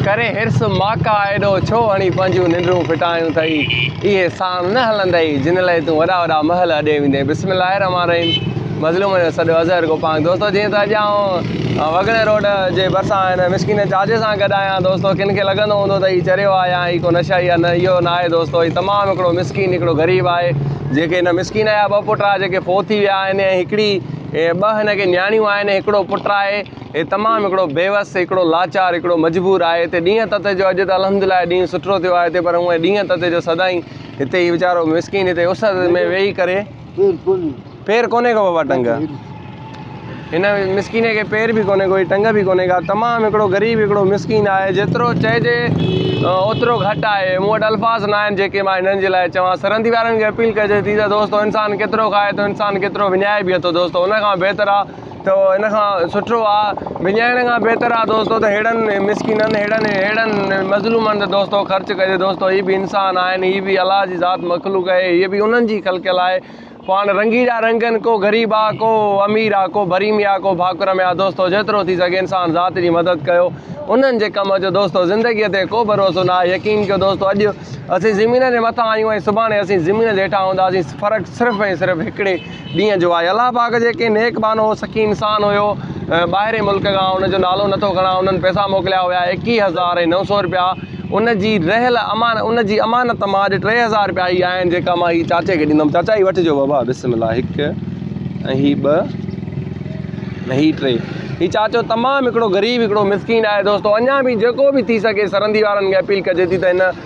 ڪري حرص ماڪا ايڏو ڇو هڻي پنهنجيون ننڊون ڦٽايون اٿئي اهي ساڻ نه هلندئي جن لئي تون وڏا وڏا محل اڏي ويندين بسم الله الرحمٰن الرحيم مظلومن جو سڏ اظهر گوپانگ دوستو جيئن ته اڄ آئون وڳڻي روڊ جي ڀرسان هن مسڪين چاچي سان گڏ آهيان دوستو ڪن کي لڳندو هوندو ته هي چريو آهي يا هي ڪو نشائي آهي نه اهو نه آهي دوستو هي تمام هڪڙو مسڪين هڪڙو غريب آهي جيڪي هن مسڪين جا ٻه پٽ آهي جيڪي فوت ٿي ويا آهن ۽ هڪڙي ٻه هن کي نياڻيون آهن هڪڙو پٽ آهي هي تمام هڪڙو بيوس، هڪڙو لاچار، هڪڙو مجبور آهي هتي ڏينهن تتي جو اڄ ته الحمد لله هي ڏينهن سٺڙو ٿيو آهي هتي پر هونء ڏينهن تتي جو سدائين هتي هي ويچارو مسڪين هتي اس ۾ ويهي ڪري پير ڪونهي ڪو بابا ٽنگ هن مسڪين کي پير به ڪونهي ڪو ٽنگ به ڪونهي ڪا تمام هڪڙو غريب هڪڙو مسڪين آهي جيترو چئجي اوترو گهٽ آهي مون وٽ الفاظ نه آهن جيڪي مان هنن جي لاء چوان سرندي وارن کي اپيل ڪجي ٿي ته دوستو انسان ڪيترو کائي ٿو انسان ڪيترو وڃائي به ٿو دوستو ان کان بهتر آهي ته ان کان سٺو آ وڃائڻ کان بهتر آ دوستو ته ههڙن مسڪينن ههڙن ههڙن مظلومن تي دوستو خرچ ڪجي دوستو هي به انسان آهن هي به الله جي ذات مخلوق آهي هي به انهن جي خلقيل آهي پاڻ رنگي جا رنگن ڪو غريب آ ڪو امير آ ڪو ڀري ميا ڪو ڀاڪر ميا دوستو جيترو ٿي سگهي انسان ذات جي مدد ڪيو انهن جي ڪم اچو دوستو زندگي تي ڪو ڀروسو نه آهي يقين ڪيو دوستو اڄ اسين زمين جي مٿان آهيون ۽ سڀاڻي اسين زمين جي هيٺان هونداسين فرق صرف ۽ صرف هڪڙي ڏينهن جو آء الله پاڪ جي ڪنهن نيڪ ٻانهو هو سخي انسان هيو ٻاهرين ملڪ کان ان جو نالو نه ٿو کڻان انهن پئسا موڪليا هيا ايڪيهه هزار ۽ نو سو رپيا ان جي رهيل امان ان جي امانت مان اڄ ٽي هزار رپيا هي آهن جيڪا مان هي چاچي کي ڏيندم چاچا هي وٺجو بابا بسم الله هڪ ۽ هي ٻه ۽ هي ٽي هي چاچو تمام هڪڙو غريب هڪڙو مسڪين آهي دوستو اڃا به جيڪو به ٿي سگهي سرندي وارن کي اپيل ڪجي ٿي ته هن